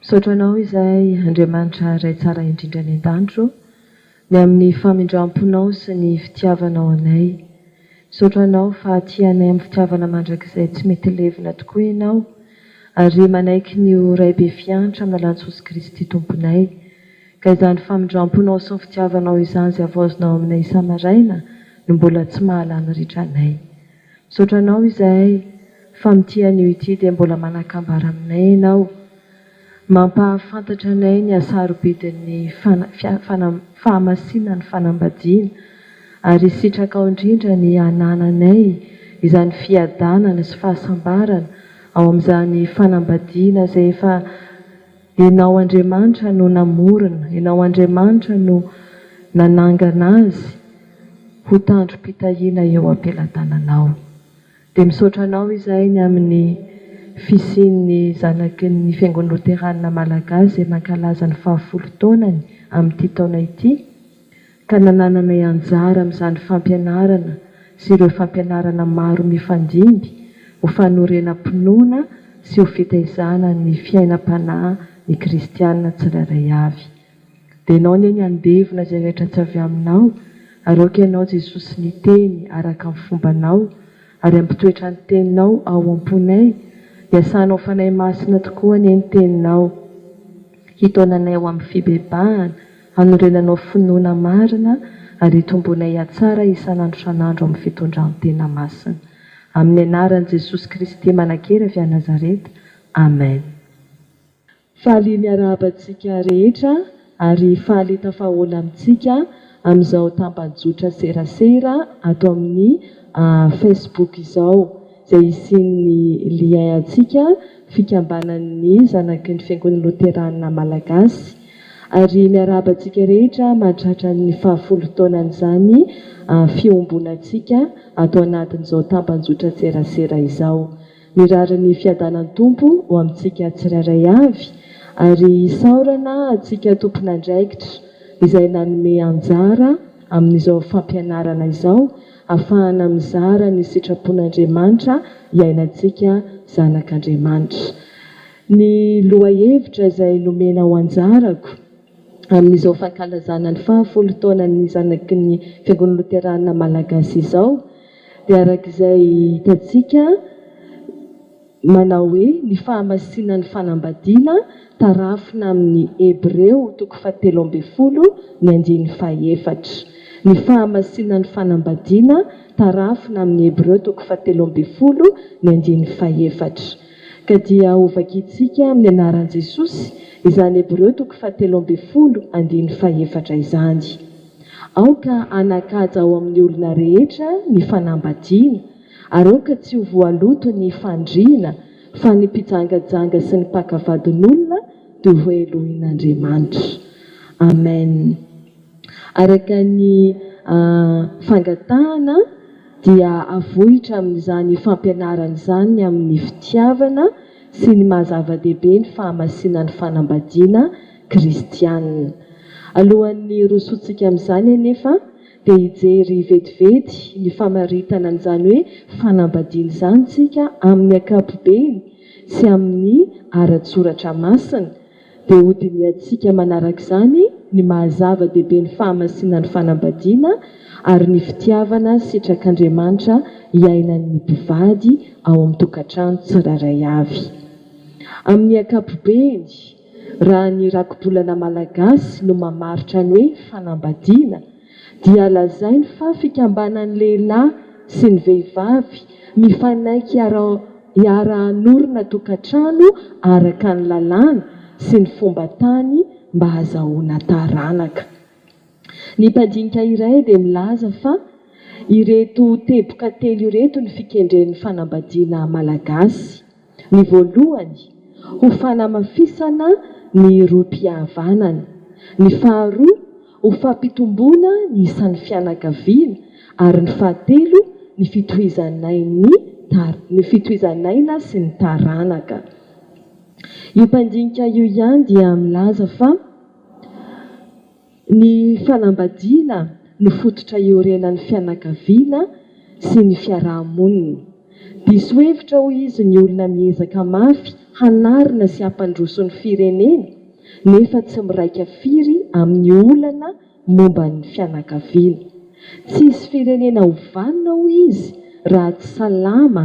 Misaotra Anao izahay, Andriamanitra Ray Tsara Indrindra any An-danitra ô, ny amin'ny famindram-ponao sy ny fitiavanao anay. Misaotra Anao fa tia anay amin'ny fitiavana mandrakizay tsy mety levona tokoa Ianao, ary manaiky ny ho Ray be fiantra amin'ny alalan'i Jesosy Kristy Tomponay. Ka izany famindram-ponao sy ny fitiavanao izany izay havaozinao aminay isa-maraina no mbola tsy maha-lany ritra anay. Misaotra anao izahay fa mitia an'io ity dia mbola manakambara aminay ianao. Mampahafantatra anay ny hasarobidin'ny fahamasinan'ny fanambadiana ary sitrakao indrindra ny hanananay izany fiadanana sy fahasambarana ao amin'izany fanambadiana izay efa Ianao Andriamanitra no namorona, Ianao Andriamanitra no nanangana azy ho tandrom-pitahiana eo am-pelatananao. Dia misaotra anao izahay ny amin'ny fisian'ny zanaky ny Fiangonana Loteranina Malagasy izay mankalaza ny fahafolo taonany amin'ity taona ity, ka nanananay anjara amin'izany fampianarana sy ireo fampianarana maro mifandimby ho fanorenam-pinoana sy ho fitaizana ny fiainam-panahy ny kristiana tsirairay avy. Dia ianao anie ny handevona izay rehetra tsy avy aminao, ary aoka ianao Jesosy niteny araka ny fombanao, ary ampitoetra ny teninao ao am-ponay, iasanao Fanahy Masina tokoa anie ny teninao hitaona anay ho amin'ny fibebahana, Hanorenanao finoana marina ary hitomboanay hatsara isan'andro isan'andro amin'ny fitondran-tena masina. Amin'ny anaran'i Jesosy Kristy manankery avy any Nazareta. Amen. Faly miarahaba antsika rehetra ary faly tafahaola amintsika amin'izao tambajotra serasera ato amin'ny Facebook izao izay hisian'ny lien antsika fikambanan'ny zanaky ny Fiangonana Loterana Malagasy Ary miarahaba antsika rehetra mahatratra ny fahafolo taonan'izany fiombonantsika ato anatin'izao tamban-jotran-tserasera izao. Mirary ny fiadanan'ny Tompo ho amintsika tsirairay avy ary isaorana antsika tompon'andraikitra izay nanome anjara amin'izao fampianarana izao afahana mizara ny sitrapon'Andriamanitra iainantsika zanak'Andriamanitra. Ny lohahevitra izay nomena ho anjarako amin'izao fankalazana ny fahafolo taonan'ny zanaky ny Fiangonana Loterana Malagasy izao dia araka izay hitantsika manao hoe ny fahamasinan'ny fanambadiana tarafina amin'ny Hebreo toko fahatelo ambin'ny folo ny andininy fahefatra. Ny fahamasinan'ny fanambadiana tarafina amin'ny Hebreo toko fahatelo ambin'ny folo ny andininy fahefatra. Ka dia hovakintsika amin'ny anaran'i Jesosy izany Hebreo toko fahatelo ambin'ny folo andininy fahefatra izany. Aoka hanan-kaja ao amin'ny olona rehetra ny fanambadiana, ary aoka tsy ho voaloto ny fandriana, fa ny mpijangajanga sy ny mpaka vadin'olona dia hohelohin'Andriamanitra. Amen. Araka ny fangatahana. dia avohitra amin'izany fampianarana izany ny amin'ny fitiavana sy ny maha zava-dehibe ny fahamasinan'ny fanambadiana kristianina. Alohan'ny hirosoantsika amin'izany anefa dia hijery vetivety ny famaritana an'izany hoe fanambadiana izany isika amin'ny ankapobeny sy amin'ny ara-tsoratra masina, Dia hodinihantsika manaraka izany ny maha-zava-dehibe ny fahamasinan'ny fanambadiana ary ny fitiavana sitrak'Andriamanitra iainan'ny mpivady ao amin'ny tokantrano tsirairay avy. Amin'ny ankapobeny, raha ny rakibolana malagasy no mamaritra ny hoe fanambadiana, dia lazainy fa fikambanan'ny lehilahy sy ny vehivavy mifanaiky hiara-hanorina tokantrano araka ny lalàna sy ny fomba tany mba hazahoana taranaka. Ny mpandinika iray dia milaza fa ireto teboka telo ireto ny fikendren'ny fanambadiana malagasy. Ny voalohany, ho fanamafisana ny rohim-pihavanana. Ny faharoa, ho fampitomboana ny isan'ny fianakaviana, ary ny fahatelo, ny fitohizan'ain'ny ny fitohizan'aina sy ny taranaka. Io mpandinika io ihany dia milaza fa. Ny fanambadiana no fototra iorenan'ny fianakaviana sy ny fiaraha-monina. Diso hevitra hoy izy ny olona miezaka mafy hanarina sy hampandroso ny firenena nefa tsy miraika firy amin'ny olana momba ny fianakaviana. Tsy hisy firenena ho vanona hoy izy raha tsy salama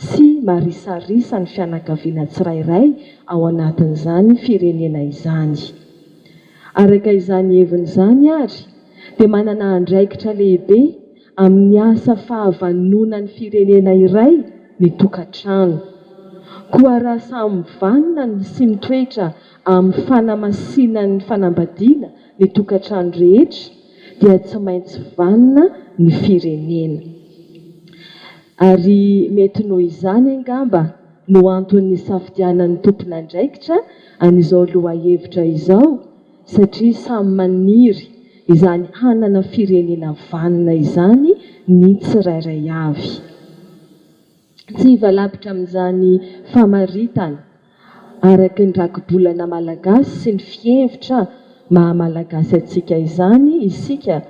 sy marisarisa ny fianakaviana tsirairay ao anatin'izany firenena izany. Araka izany heviny izany ary dia manana andraikitra lehibe amin'ny asa fahavanonan'ny firenena iray ny tokantrano. Koa raha samy mivanona sy mitoetra amin'ny fanamasinan'ny fanambadiana ny tokantrano rehetra dia tsy maintsy vanona ny firenena. Ary mety noho izany angamba no antony nisafidianan'ny tompon'andraikitra an'izao lohahevitra izao satria samy maniry izany hanana firenena vanona izany ny tsirairay avy. Tsy hivalavitra amin'izany famaritana araka ny rakibolana malagasy sy ny fihevitra maha-malagasy antsika izany isika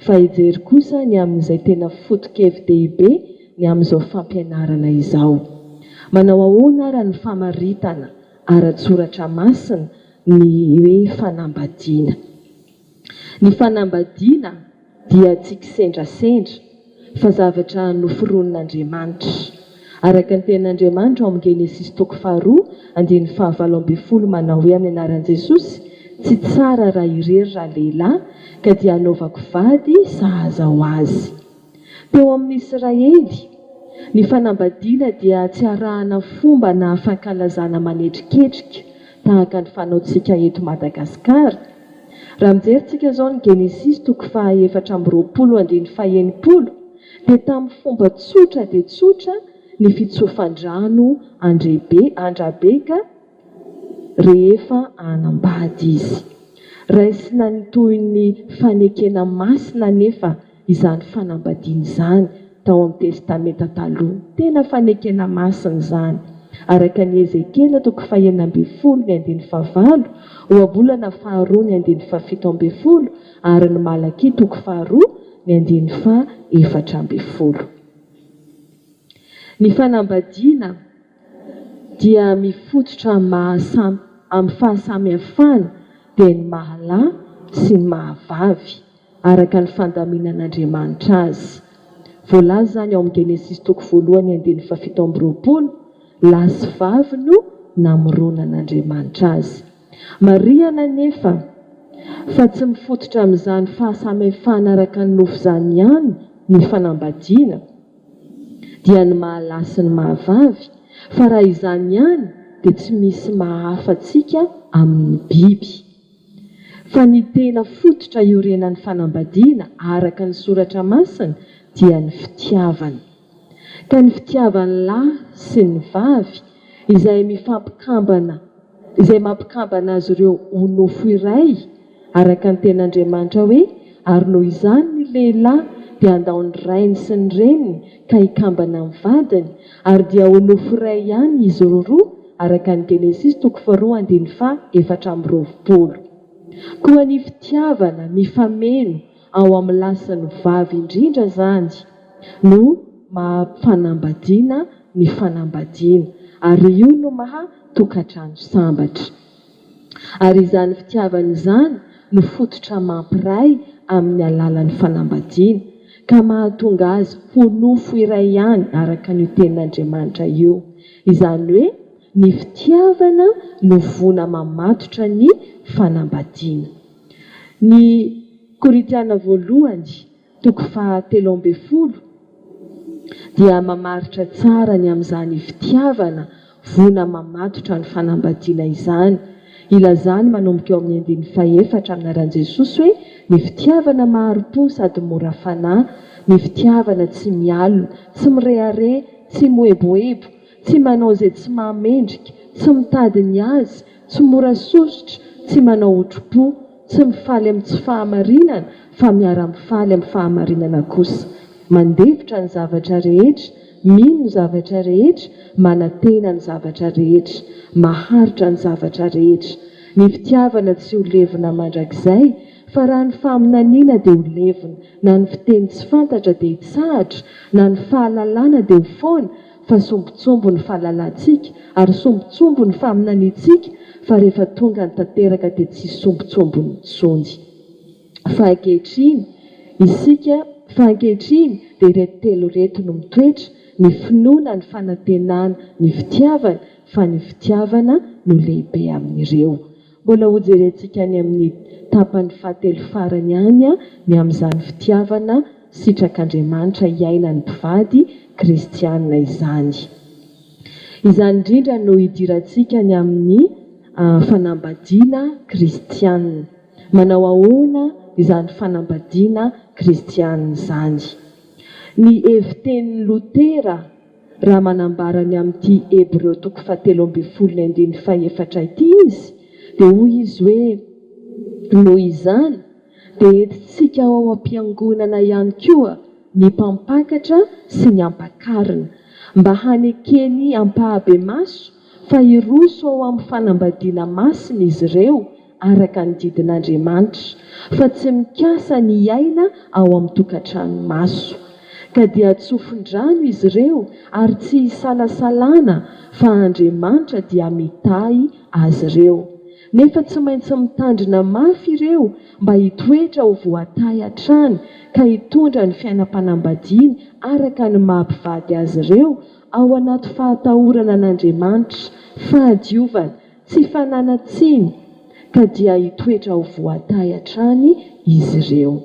fa hijery kosa ny amin'izay tena foto-kevi-dehibe ny amin'izao fampianarana izao. Manao ahoana àry ny famaritana ara-tSoratra Masina ny hoe fanambadiana? Ny fanambadiana dia tsy kisendrasendra, fa zavatra noforonin'Andriamanitra. Araka ny tenin'Andriamanitra ao amin'ny Genesisy toko faharoa andininy fahavalo ambin'ny folo manao hoe amin'ny anaran'i Jesosy, Tsy tsara raha irery raha lehilahy, ka dia hanaovako vady sahaza ho azy. Teo amin'ny Israely, ny fanambadiana dia tsy arahana fomba na fankalazana manetriketrika tahaka ny fanaontsika eto Madagasikara. Raha mijery tsika izao ny Genesisy toko faha efatra amby roapolo andininy faha enimpolo, dia tamin'ny fomba tsotra dia tsotra ny fitsofan-drano an-dRebe an-dRabeka rehefa hanambady izy. Raisina ny tohin'ny fanekena masina anefa izany fanambadiana izany tao amin'ny Testamenta Taloha. Tena fanekena masina izany. Araka an'i Ezekiela toko fahenina ambin'ny folo ny andininy fahavalo, ohabolana faharoa ny andininy fahafito ambin'ny folo, Ary ny Malakia toko faharoa, ny andininy faha efatra ambin'ny folo. Ny fanambadiana dia mifototra amin'ny maha amin'ny fahasamihafana dia ny maha lahy sy ny maha vavy, araka ny fandaminan'Andriamanitra azy. Voalaza izany ao amin'ny Genesisy toko voalohany andininy fahafito amby roapolo, Lahy sy vavy no namoronan' Andriamanitra azy. Marihana anefa fa tsy mifototra amin'izany fahasamihafana araka ny nofo izany ihany ny fanambadiana, dia ny maha lahy sy ny maha vavy, fa raha izany ihany dia tsy misy maha hafa antsika amin'ny biby. Fa ny tena fototra iorenan'ny fanambadiana araka ny Soratra Masina dia ny fitiavana. Ka ny fitiavan'ny lahy sy ny vavy izay mifampikambana, izay mampikambana azy ireo ho nofo iray, araka ny teny Andriamanitra hoe, Ary noho izany ny lehilahy dia handao ny rainy sy ny reniny ka hikambana amin'ny vadiny, ary dia ho nofo iray ihany izy roa, araka ny Genesisy toko faharoa andininy faha efatra amby roapolo. Koa ny fitiavana mifameno ao amin'ny lasin'ny vavy indrindra izany no maha fanambadiana ny fanambadiana ary io no maha tokantrano sambatra. Ary izany fitiavana izany no fototra mampiray amin'ny alalan'ny fanambadiana ka mahatonga azy ho nofo iray ihany araka an'io tenin'Andriamanitra io. Izany hoe ny fitiavana no voana mamatotra ny fanambadiana. Ny Korintiana Voalohany, toko faha telo ambin'ny folo, dia mamaritra tsara ny amin'izany fitiavana voina mamatotra ny fanambadiana izany. Ilazany manomboka eo amin'ny andininy fahefatra amin'ny anaran'i Jesosy hoe ny fitiavana mahari-po sady mora fanahy, ny fitiavana tsy mialona, tsy mirehareha, tsy moeboebo, tsy manao izay tsy mahamendrika, tsy mitady ny azy, Tsy mora sosotra, tsy manao otripo, tsy mifaly amin'ny tsy fahamarinana fa miara-mifaly amin'ny fahamarinana kosa. Mandefitra ny zavatra rehetra, mino ny zavatra rehetra, manantena ny zavatra rehetra, maharitra ny zavatra rehetra. Ny fitiavana tsy ho levona mandrakizay, fa raha ny faminaniana dia ho levona, na ny fiteny tsy fantatra dia hitsahatra, na ny fahalalana dia ho foana, fa sombintsomby ny fahalalantsika ary sombintsomby ny faminaniantsika fa rehefa tonga ny tanteraka dia tsisy sombintsomby intsony fa ankehitriny isika fa ankehitriny dia ireto telo ireto no mitoetra ny finoana ny fanantenana ny fitiavana fa ny fitiavana no lehibe amin'ireo Mbola hojerentsika any amin'ny tapany fahatelo farany any ny amin'izany fitiavana sitrak'Andriamanitra hiainan'ny mpivady kristiana izany. Izany indrindra no hidirantsika ny amin'ny fanambadiana kristiana. Manao ahoana izany fanambadiana kristiana izany? Ny hevitenin'i Lotera Raha manambara ny amin'ity Hebreo toko fahatelo ambin'ny folo ny andininy fahefatra ity izy, dia hoy izy hoe, Noho izany, dia entintsika ao am-piangonana ihany koa ny mpampakatra sy ny ampakarina, mba hanekeny ampahabemaso fa hiroso ao amin'ny fanambadiana masina izy ireo araka ny didin'Andriamanitra, fa tsy mikasa ny hiaina ao amin'ny tokantrano maso. Ka dia tsofin-drano izy ireo ary tsy isalasalana fa Andriamanitra dia mitahy azy ireo. Nefa tsy maintsy mitandrina mafy ireo mba hitoetra ho voatahy hatrany ka hitondra ny fiainam-panambadiany araka ny maha mpivady azy ireo Ao anaty fahatahorana an'Andriamanitra, fahadiovana, tsy fananan-tsiny, ka dia hitoetra ho voatahy hatrany izy ireo.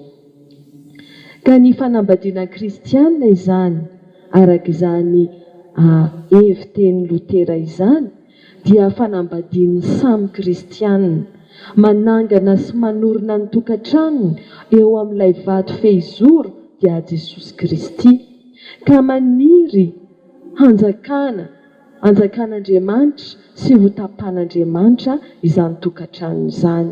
Ka ny fanambadiana kristiana izany, araka izany hevi-tenin'i Lotera izany, dia fanambadian'ny samy kristiana. Manangana sy manorina ny tokantranony eo amin'ilay vato fehizoro dia Jesosy Kristy, ka maniry hanjakana, hanjakan'Andriamanitra sy hotapan'Andriamanitra izany tokantrano izany.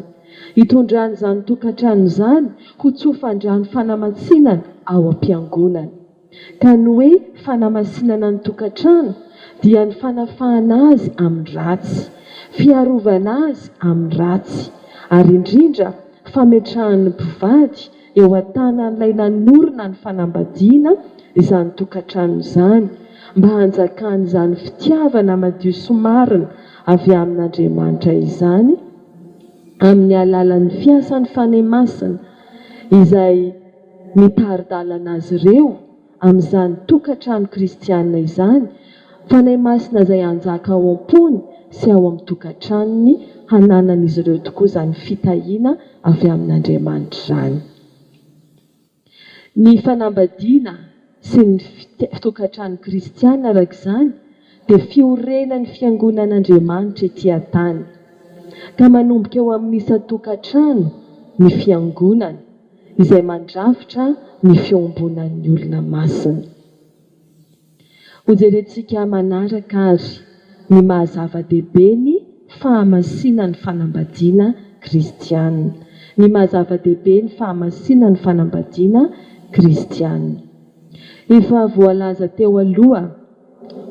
Hitondrany izany tokantrano izany ho tsofandrano fanamatsinana ao am-piangonana. Ka ny hoe fanamasinana ny tokantrano dia ny fanafahana azy amin'ny ratsy, fiarovana azy amin'ny ratsy, ary indrindra fametrahan'ny mpivady eo an-tanan'ilay nanorina ny fanambadiana izany tokantrano izany, mba hanjakan'izany fitiavana madio sy marina avy amin'Andriamanitra izany, amin'ny alalan'ny fiasan'ny Fanahy Masina, izay. mitari-dalana azy ireo amin'izany tokantrano kristiana izany Fanahy Masina izay hanjaka ao am-pony sy ao amin'ny tokantranony, hananan'izy ireo tokoa izany fitahiana avy amin'Andriamanitra izany. Ny fanambadiana sy ny tokantrano kristiana araka izany dia fiorenan'ny fiangonan'Andriamanitra ety an-tany, ka manomboka eo amin'ny isan-tokantrano ny fiangonana. izay mandrafitra ny fiombonan'ny olona masina. Hojerentsika manaraka ary ny maha zava-dehibe ny fahamasinan'ny fanambadiana kristiana. Ny maha zava-dehibe ny fahamasinan'ny fanambadiana kristiana. Efa voalaza teo aloha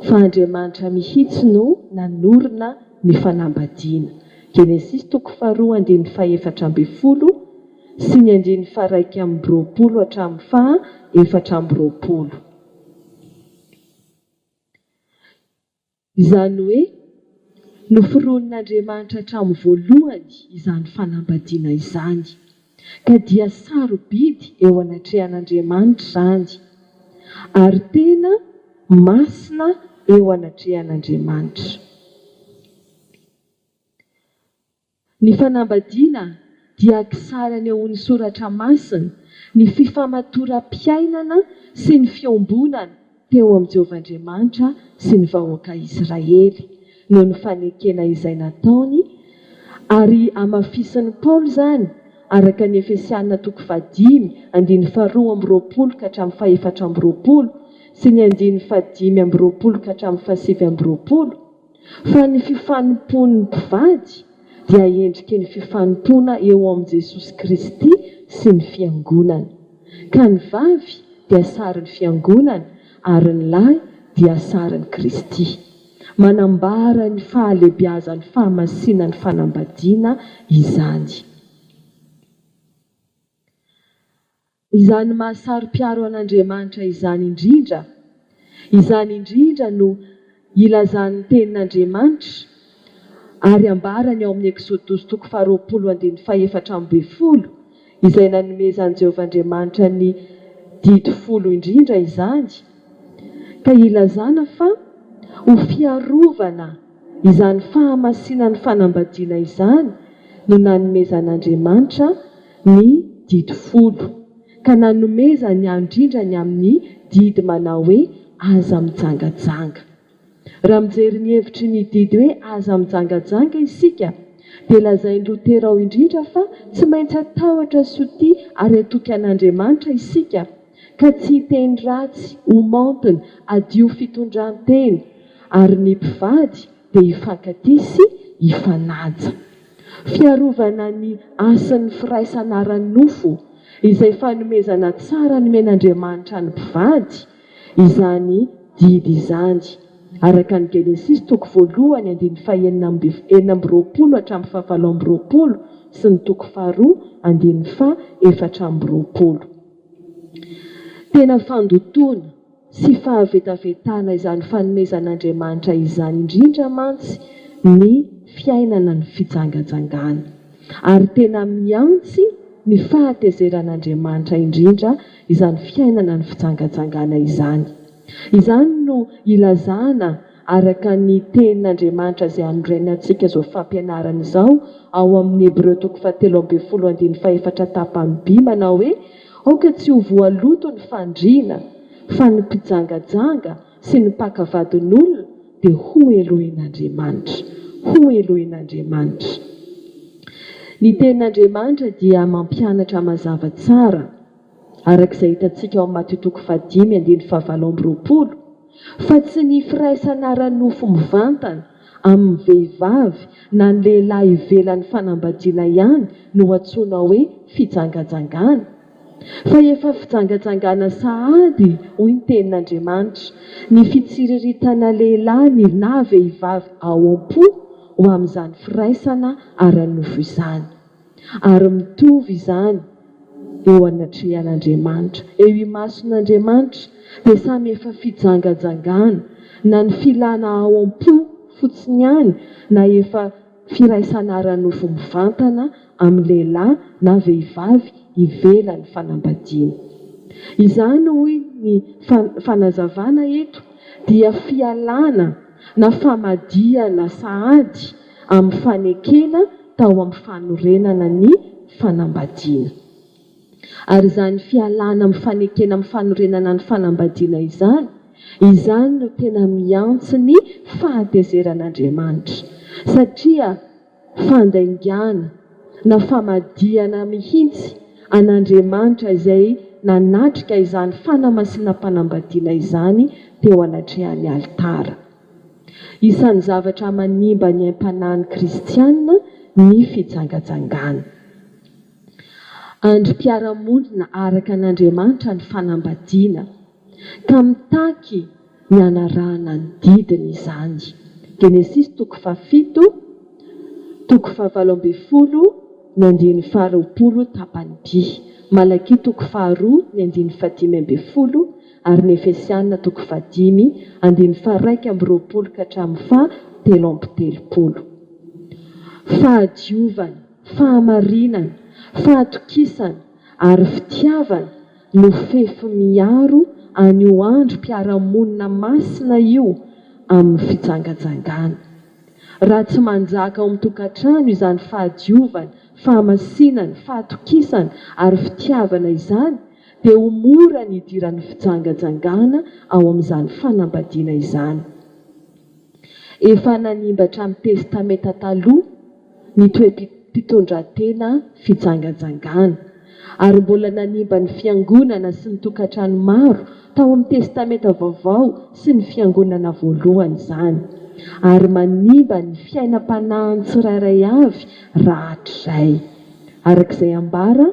fa Andriamanitra mihitsy no nanorina ny fanambadiana, Genesisy toko faharoa andininy fahefatra ambin'ny folo, sy ny andininy faha iraika amby roapolo hatramin'ny faha efatra amby roapolo. Izany hoe, noforonin'Andriamanitra hatramin'ny voalohany izany fanambadiana izany, ka dia sarobidy eo anatrehan'Andriamanitra izany, ary tena masina eo anatrehan'Andriamanitra. Ny fanambadiana dia kisary anehoan'ny Soratra Masina ny fifamatoram-piainana sy ny fiombonana teo amin'i Jehovah Andriamanitra sy ny vahoaka Israely, noho ny fanekena izay nataony, ary hamafisin'i Paoly izany, araka ny Efesiana toko fahadimy, andininy faharoa amby roapolo ka hatramin'ny fahefatra amby roapolo, sy ny andininy fahadimy amby roapolo ka hatramin'ny fahasivy amby roapolo. fa ny fifanompoan'ny mpivady dia endriky ny fifanompoana eo amin'i Jesosy Kristy sy ny Fiangonany, ka ny vavy dia sarin'ny Fiangonana ary ny lahy dia sarin'i Kristy. Manambara ny fahalebiazan'ny fahamasinan'ny fanambadiana izany. Izany maha-saro-piaro an'Andriamanitra izany indrindra, izany indrindra no ilazan'ny Tenin'Andriamanitra ary ambarany ao amin'ny Eksodosy toko faharoapolo andininy fahefatra ambin'ny folo, izay nanomezan'i Jehovah Andriamanitra ny Didy Folo indrindra izany, ka ilazana fa ho fiarovana izany fahamasinan'ny fanambadiana izany no nanomezan'Andriamanitra ny Didy folo, ka nanomezany andrindrany amin'ny didy manao hoe Aza mijangajanga. Raha mijery ny hevitry ny didy hoe Aza mijangajanga isika, dia lazain'i Lotera ao indrindra fa tsy maintsy hatahotra sotia ary hatoky an'Andriamanitra isika, ka tsy hiteny ratsy ho maontina, hadio fitondran-tena, ary ny mpivady dia hifankatia sy hifanaja. Fiarovana ny hasin'ny firaisana ara-nofo izay fanomezana tsara nomen'Andriamanitra ny mpivady izany didy izany, araka ny Genesisy toko voalohany andininy fahenina amby enina amby roapolo hatramin'ny fahavalo amby roapolo sy ny toko faharoa andininy faha efatra amby roapolo. Tena fandotoana. sy fahavetavetana izany fanomezan'Andriamanitra izany indrindra mantsy ny fiainana ny fijangajangana. Ary tena mihantsy ny fahatezeran'Andriamanitra indrindra izany fiainana ny fijangajangana izany. Izany no ilazana araka ny Tenin'Andriamanitra izay anorenany antsika izao fampianarana izao ao amin'ny Hebreo toko fahatelo ambin'ny folo andininy fahefatra tapany by manao hoe, Aoka tsy ho voaloto ny fandriana, fa ny mpijangajanga sy ny mpaka vadin'olona dia hohelohin'Andriamanitra. Hohelohin'Andriamanitra. Ny Tenin'Andriamanitra dia mampianatra mazava tsara. araka izay hitantsika ao amin'ny Matio toko fahadimy andininy fahavalo amby roapolo, fa tsy ny firaisana ara-nofo mivantana amin'ny vehivavy na ny lehilahy ivelan'ny fanambadiana ihany no antsoina hoe fijangajangana, fa efa fijangajangana sahady, hoy ny Tenin'Andriamanitra, ny fitsiriritana lehilahy na vehivavy ao am-po ho amin'izany firaisana ara-nofo izany. Ary mitovy izany eo anatrehan'Andriamanitra, eo imason'Andriamanitra dia samy efa fijanganjangana, na ny filana ao am-po fotsiny ihany na efa firaisana ara-nofo mivantana amin'ny lehilahy na vehivavy ivelan'ny fanambadiana. Izany hoy ny fanazavana eto dia fialana na famadihana sahady amin'ny fanekena tao amin'ny fanorenana ny fanambadiana. Ary izany fialana amin'ny fanekena amin'ny fanorenana ny fanambadiana izany, izany no tena miantso ny fahatezeran'Andriamanitra, satria fandaingana na famadihana mihitsy an'Andriamanitra izay nanatrika izany fanamasinam-panambadiana izany teo anatrehan'ny alitara. Isan'ny zavatra manimba ny aim-panahin'ny kristiana ny fijangajangana. Andrim-piarahamonina araka an'Andriamanitra ny fanambadiana, ka mitaky ny hanarahana ny didiny izany. Genesisy toko fahafito, toko fahavalo ambin'ny folo, ny andininy faharoapolo, tapany-by. Malakia toko faharoa, ny andininy fahadimy ambin'ny folo. ary ny Efesiana toko fahadimy andininy faharaika amby roapolo ka hatramin'ny faha telo amby telopolo. Fahadiovana, fahamarinana, fahatokisana ary fitiavana no fefy miaro an'io androm-piarahamonina masina io amin'ny fijangajangana. Raha tsy manjaka ao amin'ny tokantrano izany fahadiovana, fahamasinana, fahatokisana ary fitiavana izany, dia ho mora ny hidiran'ny fijangajangana ao amin'izany fanambadiana izany. Efa nanimba hatramin'ny Testamenta Taloha ny toe-pitondran-tena fijangajangana, ary mbola nanimba ny fiangonana sy ny tokantrano maro tao amin'ny Testamenta Vaovao sy ny fiangonana voalohany izany, ary manimba ny fiainam-panahin'ny tsirairay avy rahatrizay, araka izay ambara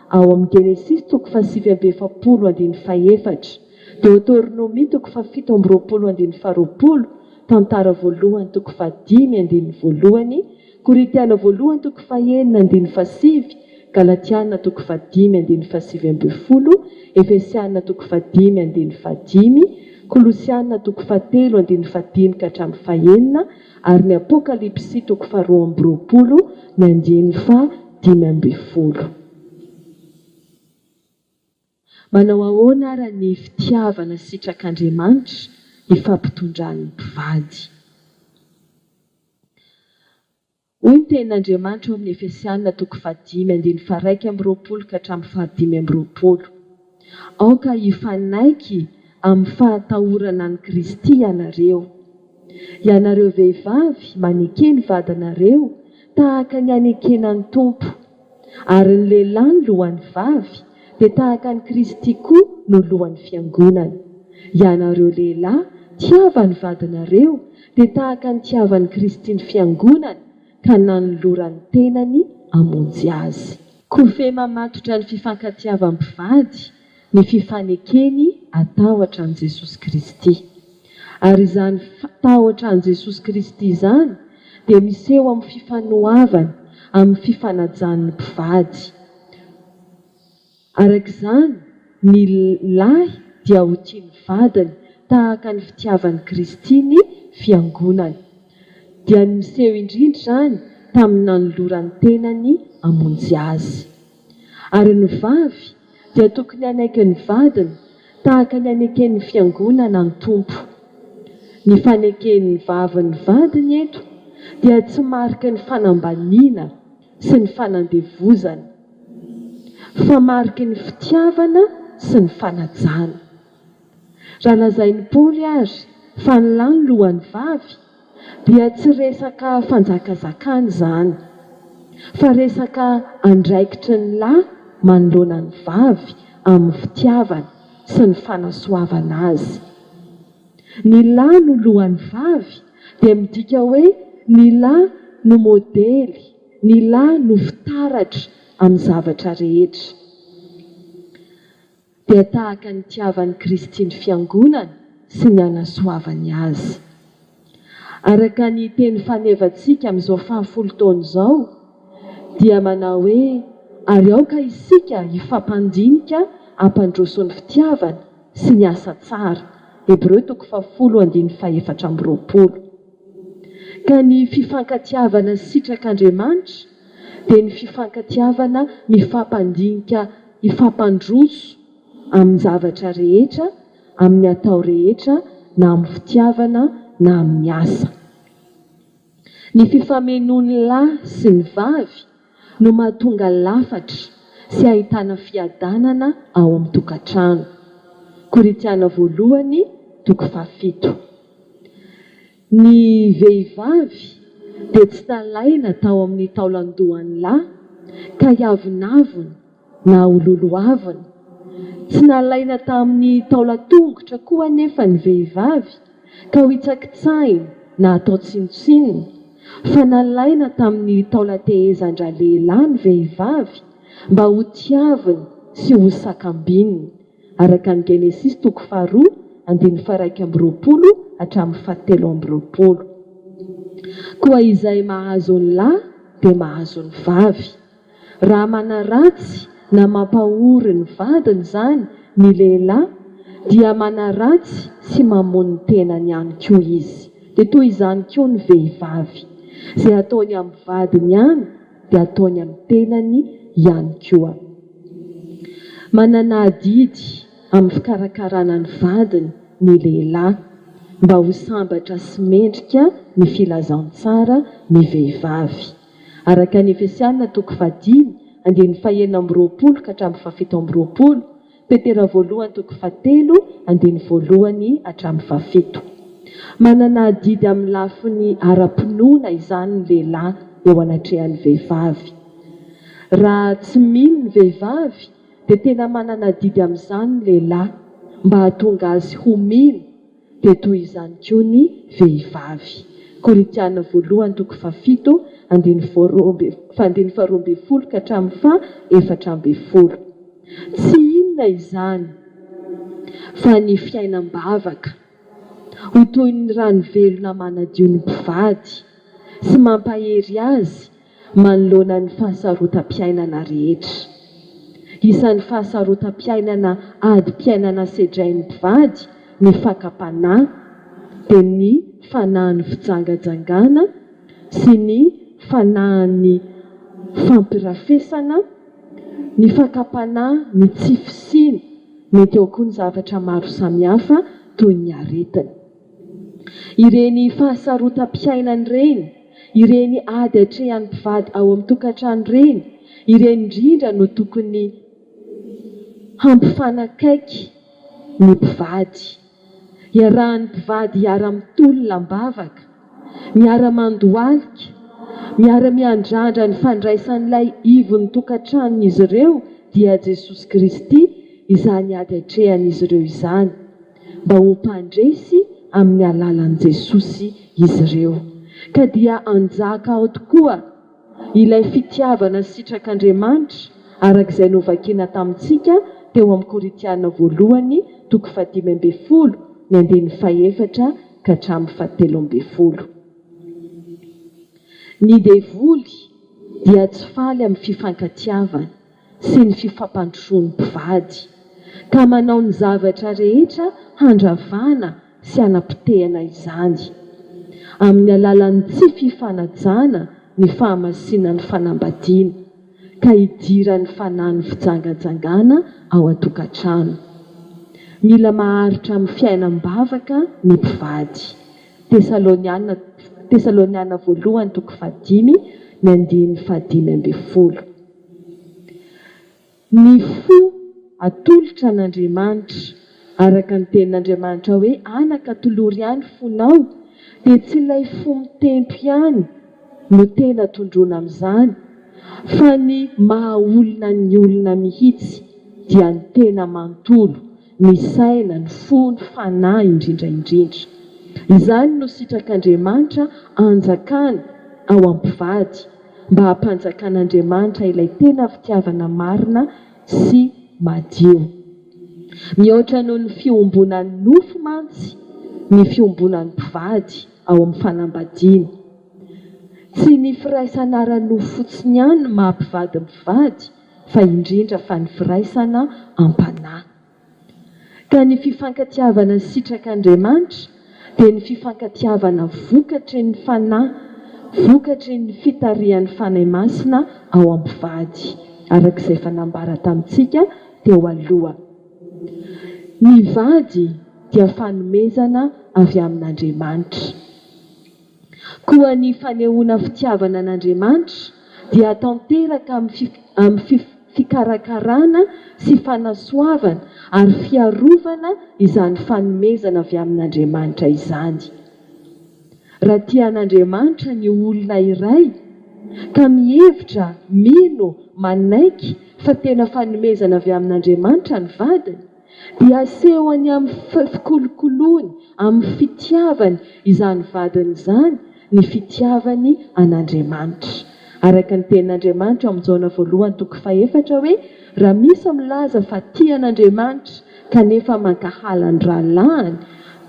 Ao amin'ny Genesisy toko fahasivy amby efapolo andininy fahefatra, Deoteronomia toko fahafito amby roapolo andininy faharoapolo, Tantara voalohany toko fahadimy andininy voalohany, Korintiana voalohany toko fahenina andininy fahasivy, Galatiana toko fahadimy andininy fahasivy ambin'ny folo, Efesiana toko fahadimy andininy fahadimy, Kolosiana toko fahatelo andininy fahadimy ka hatramin'ny fahenina, ary ny Apokalypsy toko faharoa amby roapolo ny andiany faha dimy ambin'ny folo. Manao ahoana ara ny fitiavana sitrak'Andriamanitra ifampitondran'ny mpivady? Hoy ny tenin'Andriamanitra ao amin'ny Efesiana toko faha dimy andininy faha iraika amby roapolo ka hatramin'ny faha dimy amby roapolo. Aoka hifanaiky amin'ny fahatahorana an'i Kristy ianareo. Ianareo vehivavy, maneke ny vadinareo tahaka ny anekena ny Tompo, ary ny lehilahy ny lohan'ny vavy, dia tahaka an'i Kristy koa no lohan'ny fiangonana. Ianareo lehilahy, tiava ny vadinareo, dia tahaka ny tiavan'i Kristy ny fiangonana, ka nanolorany ny tenany hamonjy azy. Kofehy mamatotra ny fifankatiavan'ny mpivady ny fifanekeny atahotra an'i Jesosy Kristy. Ary izany tahotra an'i Jesosy Kristy izany dia miseho amin'ny fifanoavany, amin'ny fifanajany ny mpivady. Araka izany, ny lahy dia ho tia ny vadiny tahaka ny fitiavan'i Kristy ny Fiangonany. dia ny niseho indrindra izany tamin'ny nanolorany tenany hamonjy azy. Ary ny vavy dia tokony hanaiky ny vadiny tahaka ny aneken'ny Fiangonana ny Tompo. Ny faneken'ny vavy ny vadiny eto dia tsy mariky ny fanambaniana sy ny fanandevozana, fa mariky ny fitiavana sy ny fanajana. Raha lazain'i Paoly ary fa ny lahy no lohan'ny vavy, dia tsy resaka fanjakazakana izany, fa resaka andraikitry ny lahy manoloana ny vavy amin'ny fitiavana sy ny fanasoavana azy. Ny lahy no lohan'ny vavy dia midika hoe ny lahy no modely, ny lahy no fitaratra amin'ny zavatra rehetra. dia tahaka ny nitiavan'i Kristy ny Fiangonany sy ny hanasoavany azy. Araka ny teny fanevantsika amin'izao fahafolo taona izao dia manao hoe ary aoka isika hifampandinika hampandroso ny fitiavana sy ny asa tsara, Hebreo toko fahafolo andininy fahefatra amby roapolo. Ka ny fifankatiavana sitrak'Andriamanitra dia ny fifankatiavana mifampandinika hifampandroso amin'ny zavatra rehetra, amin'ny atao rehetra na amin'ny fitiavana na amin'ny asa. Ny fifamenoan'ny lahy sy ny vavy no mahatonga lafatra sy ahitana fiadanana ao amin'ny tokantrano. Korintiana voalohany, toko fahafito. Ny vehivavy dia tsy nalaina tao amin'ny taolan-dohan'ny lahy ka hiavonavona na ho lolohavina. Tsy nalaina tamin'ny taolan-tongotra koa anefa ny vehivavy ka hohitsakitsahina na hatao tsinontsinona, fa nalaina tamin'ny taolan-tehezan-dralehilahy ny vehivavy mba hotiaviny sy hosakambininy. araka ny Genesisy toko faharoa andininy faharaika amby roapolo hatramin'ny fahatelo amby roapolo. Koa izay mahazo ny lahy dia mahazo ny vavy. Raha manaratsy na mampahory ny vadiny izany ny lehilahy dia manaratsy sy mamono ny tenany ihany koa izy. Dia toy izany koa ny vehivavy. Izay ataony amin'ny vadiny ihany dia ataony amin'ny tenany ihany koa. Manana adidy amin'ny fikarakarana ny vadiny ny lehilahy mba ho sambatra sy mendrika ny filazantsara ny vehivavy. Araka ny Efesiana toko fahadimy, andiany fahenina amby roapolo ka hatramin'ny fahafito amby roapolo, Petera voalohany toko fahatelo andininy voalohany hatramin'ny fahafito. Manana adidy amin'ny lafiny ara-pinoana izany ny lehilahy eo anatrehan'ny vehivavy. Raha tsy mino ny vehivavy dia tena manana adidy amin'izany ny lehilahy mba hahatonga azy ho mino. dia toy izany koa ny vehivavy. Korintiana voalohany toko fahafito andininy faha roa ambin'ny folo ka hatramin'ny faha efatra ambin'ny folo. Tsy inona izany fa ny fiainam-bavaka ho toy ny rano velona manadio ny mpivady sy mampahery azy manoloana ny fahasarotam-piainana rehetra. Isan'ny fahasarotam-piainana adim-piainana sedrain'ny mpivady ny fakam-panahy, dia ny fanahin'ny fijangajangana sy ny fanahin'ny fampirafesana, ny fakam-panahy, ny tsy fisiany, mety ao koa ny zavatra maro samihafa toy ny aretina. Ireny fahasarotam-piainana ireny, ireny ady atrehan'ny mpivady ao amin'ny tokantrano ireny, ireny indrindra no tokony hampifanakaiky ny mpivady. Iarahan'ny mpivady hiara-mitolona am-bavaka, miara-mandohalika, miara-miandrandra ny fandraisan'ilay ivon'ny tokantranon'izy ireo, dia Jesosy Kristy, izany ady atrehan'izy ireo izany. mba ho mpandresy amin'ny alalan'i Jesosy izy ireo, ka dia hanjaka ao tokoa ilay fitiavana sitrak'Andriamanitra, araka izay novakina tamintsika teo amin'ny Korintiana voalohany toko fahadimy ambin'ny folo ny andininy fahefatra ka hatramin'ny fahatelo ambin'ny folo. Ny devoly dia tsy faly amin'ny fifankatiavana. sy ny fifampandrosoan'ny mpivady, ka manao ny zavatra rehetra handravana sy hanapotehana izany, amin'ny alalan'ny tsy fifanajana ny fahamasinan'ny fanambadiana, ka idiran'ny fanahin'ny fijangajangana ao an-tokantrano. Mila maharitra amin'ny fiainam-bavaka ny mpivady. Tesaloniana Tesaloniana Voalohany toko fahadimy, ny andininy fahadimy ambin'ny folo. Ny fo atolotra an'Andriamanitra, araka ny tenin'Andriamanitra hoe anaka tolory ihany fonao, dia tsy ilay fo mitempo ihany no tena tondroina amin'izany, fa ny maha olona ny olona mihitsy, dia ny tena manontolo. ny saina, ny fo, ny fanahy indrindra indrindra. Izany no sitrak'Andriamanitra anjakana ao am-pivady mba hampanjakan'Andriamanitra ilay tena fitiavana marina sy madio. Mihoatra noho ny fiombonan'ny nofo mantsy ny fiombonan'ny mpivady ao amin'ny fanambadiana. Tsy ny firaisana ara-nofo fotsiny ihany no maha-mpivady mpivady fa indrindra fa ny firaisana am-panahy. Ka ny fifankatiavana sitrak'Andriamanitra dia ny fifankatiavana vokatry ny Fanahy, vokatry ny fitarihan'ny Fanahy Masina ao am-pivady, araka izay efa nambara tamintsika teo aloha. Ny vady dia fanomezana avy amin'Andriamanitra. Koa ny fanehoana fitiavana an'Andriamanitra dia tanteraka amin'ny fikarakarana sy fanasoavana ary fiarovana izany fanomezana avy amin'Andriamanitra izany. Raha tia an'Andriamanitra ny olona iray ka mihevitra, mino, manaiky fa tena fanomezana avy amin'Andriamanitra ny vadiny, dia asehony amin'ny fikolokoloany, amin'ny fitiavany izany vadiny izany ny fitiavany an'Andriamanitra. Araka ny Tenin'Andriamanitra ao amin'ny Jaona voalohany toko fahefatra hoe, Raha misy milaza fa tia an'Andriamanitra kanefa mankahala ny rahalahiny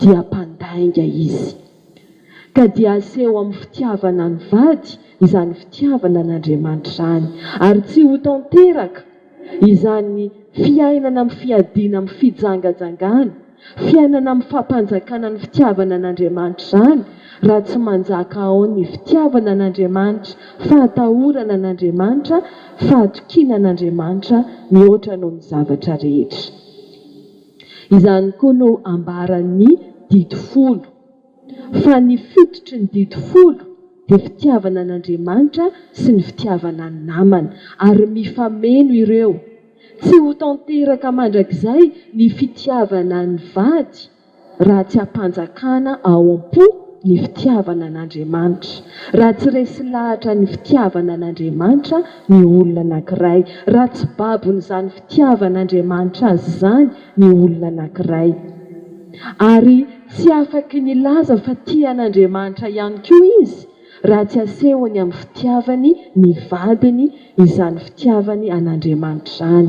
dia mpandainga izy. Ka dia aseho amin'ny fitiavana ny vady izany fitiavana an'Andriamanitra izany, ary tsy ho tanteraka izany fiainana amin'ny fiadiana amin'ny fijangajangana, fiainana amin'ny fampanjakana ny fitiavana an'Andriamanitra izany, raha tsy manjaka ao ny fitiavana an'Andriamanitra, fahatahorana an'Andriamanitra, fahatokiana an'Andriamanitra mihoatra noho ny zavatra rehetra. Izany koa no ambaran'ny Didy Folo, fa ny fototry ny Didy Folo dia fitiavana an'Andriamanitra sy ny fitiavana ny namana, ary mifameno ireo. Tsy ho tanteraka mandrakizay ny fitiavana ny vady raha tsy ampanjakana ao am-po ny fitiavana an'Andriamanitra, raha tsy resy lahatra ny fitiavana an'Andriamanitra ny olona anankiray, raha tsy babon'izany Fitiavan'Andriamanitra azy izany ny olona anankiray. Ary tsy afaky ny laza fa tia an'Andriamanitra ihany koa izy raha tsy asehony amin'ny fitiavany ny vadiny izany fitiavany an'Andriamanitra izany,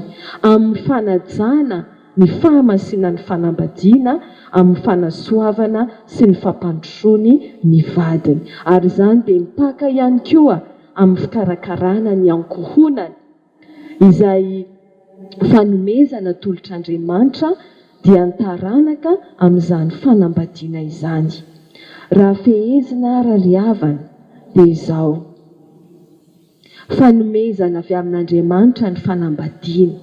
amin'ny fanajana ny fahamasinan'ny fanambadiana, amin'ny fanasoavana sy ny fampandrosoany ny vadiny. Ary izany dia mipaka ihany koa amin'ny fikarakarana ny ankohonany. izay fanomezana tolotr'Andriamanitra dia ny taranaka amin'izany fanambadiana izany. Raha fehezina arariavana dia izao, fanomezana avy amin'Andriamanitra ny fanambadiana,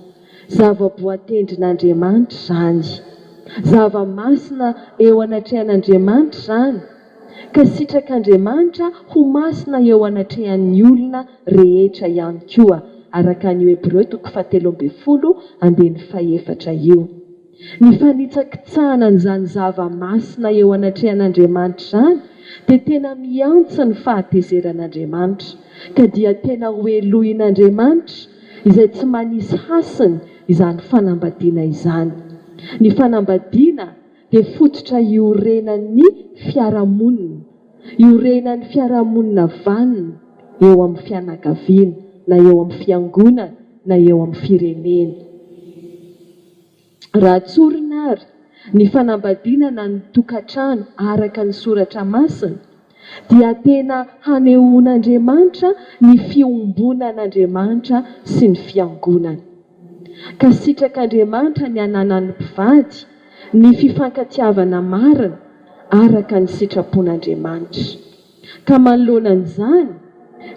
zava-boatendrin'Andriamanitra izany, zava-masina eo anatrehan'Andriamanitra izany, ka sitrak'Andriamanitra ho masina eo anatrehan'ny olona rehetra ihany koa, araka an'io Hebreo toko fahatelo ambin'ny folo andininy fahefatra io. Ny fanitsakitsahana an'izany zava-masina eo anatrehan'Andriamanitra izany dia tena miantsa ny fahatezeran'Andriamanitra, ka dia tena ho helohin'Andriamanitra izay tsy manisy hasiny izany fanambadiana izany. Ny fanambadiana. dia fototra iorenan'ny fiarahamonina, iorenan'ny fiarahamonina vanona eo amin'ny fianakaviana na eo amin'ny fiangonana na eo amin'ny firenena. Raha tsorina àry ny fanambadiana na ny tokantrano araka ny Soratra Masina, dia tena hanehoan'Andriamanitra ny fiombonan'Andriamanitra sy ny Fiangonany. Ka sitrak'Andriamanitra ny ananan'ny mpivady ny fifankatiavana marina araka ny sitrapon'Andriamanitra. Ka manoloana an'izany,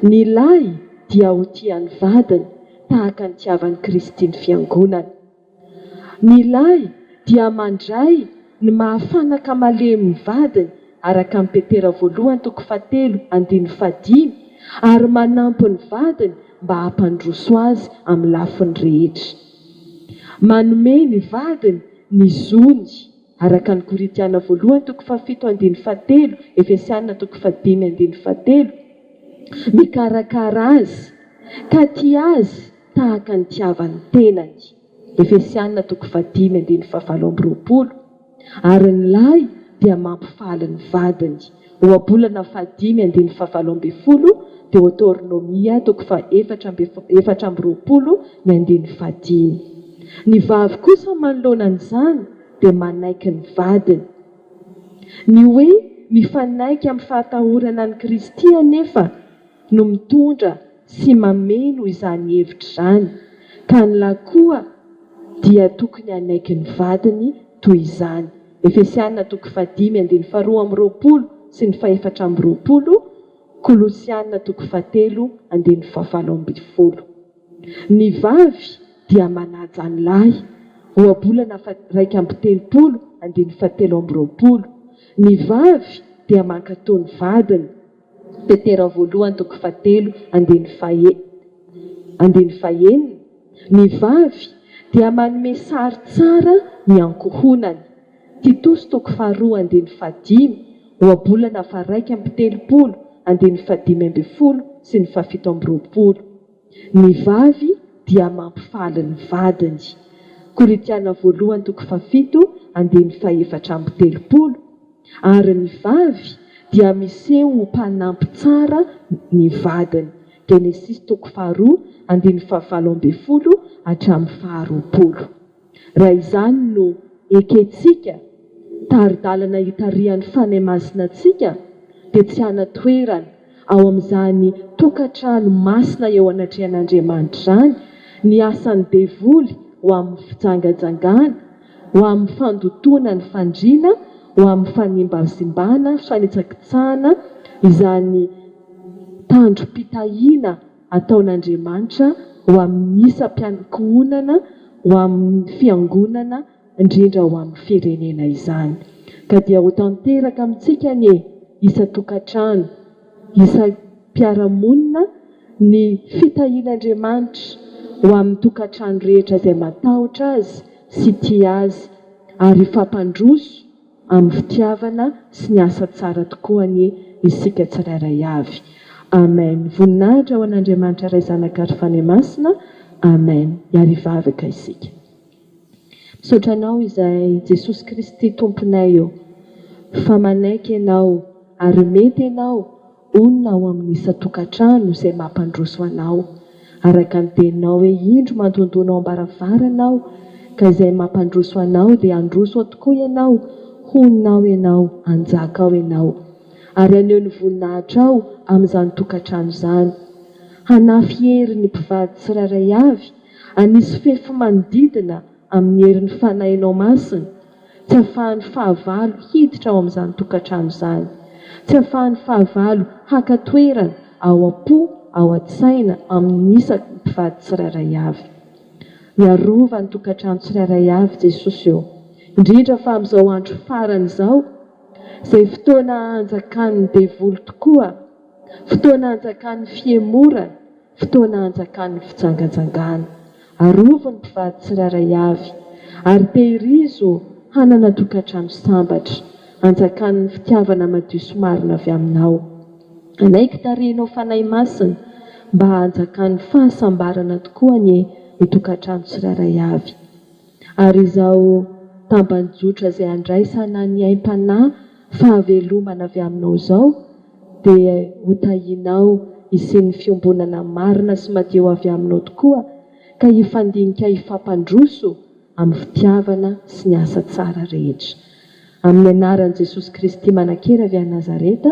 ny lahy dia ho tia ny vadiny tahaka ny tiavan'i Kristy ny Fiangonany. Ny lahy dia mandray ny maha fanaka malemy ny vadiny, araka amin'i Petera voalohany toko fahatelo andininy fahadimy, ary manampy ny vadiny mba hampandroso azy amin'ny lafiny rehetra. Manome ny vadiny ny zony, araka ny Korintiana voalohany toko fahafito andininy fahatelo, Efesiana toko fahadimy andininy fahatelo, mikarakara azy, ka tia azy, tahaka ny tiavan'ny tenany, Efesiana toko fahadimy andininy fahavalo amby roapolo, ary ny lahy dia mampifaly ny vadiny, Ohabolana fahadimy andininy fahavalo ambin'ny folo, Deoteronomia toko fahefatra amby efatra amby roapolo ny andininy fahadimy. Ny vavy kosa manoloana an'izany dia manaiky ny vadiny. Ny hoe mifanaiky amin'ny fahatahorana an'i Kristy anefa no mitondra tsy mameno izany hevitra izany ka ny lahy koa dia tokony hanaiky ny vadiny toy izany, Efesiana toko fahadimy andininy faharoa amby roapolo sy ny fahefatra amby roapolo, Kolosiana toko fahatelo andininy fahafalo ambin'ny folo. Ny vavy dia manaja ny lahy, Ohabolana faha iraika amby telopolo andininy fahatelo amby roapolo, Ny vavy dia mankato ny vadiny, Petera voalohany toko fahatelo andininy fahe, andininy fahenina, Ny vavy dia manome sary tsara ny ankohonany. Titosy toko faharoa andininy fahadimy, Ohabolana faharaika amby telopolo, andininy fahadimy ambin'ny folo sy ny fahafito amby roapolo. Ny vavy dia mampifaly ny vadiny. Korintiana voalohany toko fahafito andininy fahefatra amby telopolo Ary ny vavy dia miseho ho mpanampy tsara ny vadiny. Genesisy toko faharoa andininy fahavalo ambin'ny folo hatramin'ny faharoapolo. Raha izany no ekentsika, tari-dalana itarihan'ny Fanahy Masina antsika, dia tsy hanan-toerana ao amin'izany tokantrano masina eo anatrehan'Andriamanitra izany ny asan'ny devoly ho amin'ny fijangajangana, ho amin'ny fandotoana ny fandriana, ho amin'ny fanimbazimbana, fanitsakitsahana izany tandrom-pitahiana ataon'Andriamanitra ho amin'ny isam-piankohonana ho amin'ny fiangonana indrindra ho amin'ny firenena izany. Ka dia ho tanteraka amintsika anie isan-tokantrano, isam-piarahamonina ny fitahian'Andriamanitra ho amin'ny tokantrano rehetra izay matahotra Azy sy tia Azy ary hifampandroso, Amin'ny fitiavana sy ny asa tsara tokoa anie isika tsirairay avy. Amen. Voninahitra ho an'Andriamanitra Ray Zanaka ary Fanahy Masina. Amen. Hiary hivavaka isika. Misaotra Anao izay Jesosy Kristy Tomponay ô, fa manaiky Ianao ary mety Ianao Inona ao amin'ny isan-tokantrano izay mampandroso anao, araka ny teninao hoe indro mandondona ao am-baravarana aho, ka izay mampandroso anao dia handroso ao tokoa ianao, honina ao ianao, hanjaka ao ianao. Ary haneho ny voninahitrao amin'izany tokantrano izany. Hanafy hery ny mpivady tsirairay avy, hanisy fefy manodidina amin'ny herin'ny fanahinao masina, Tsy ahafahan'ny fahavalo hiditra ao amin'izany tokantrano izany. Tsy ahafahan'ny fahavalo haka toerana ao am-po, ao an-tsaina, amin'ny isaky ny mpivady tsirairay avy. Miarova ny tokantrano tsirairay avy Jesosy eo, indrindra fa amin'izao andro farany izao, izay fotoana hanjakan'ny devoly tokoa, fotoana hanjakan'ny fihemorana, Fotoana hanjakan'ny fijangajangana. Arovy ny mpivady tsirairay avy, ary tehirizo hanana tokantrano sambatra. Anjakan'ny fitiavana madio sy marina avy aminao. Hanaiky tarehinao Fanahy Masina mba hanjakan'ny fahasambarana tokoa anie ny tokantrano tsirairay avy. ary izao tamban-jotra izay andraisana ny aim-panahy fahavelomana avy aminao izao dia hotahianao hisian'ny fiombonana marina sy madio avy aminao tokoa ka hifandinika hifampandroso amin'ny fitiavana sy ny asa tsara rehetra. Amin'ny anaran'i Jesosy Kristy Manankery avy any Nazareta,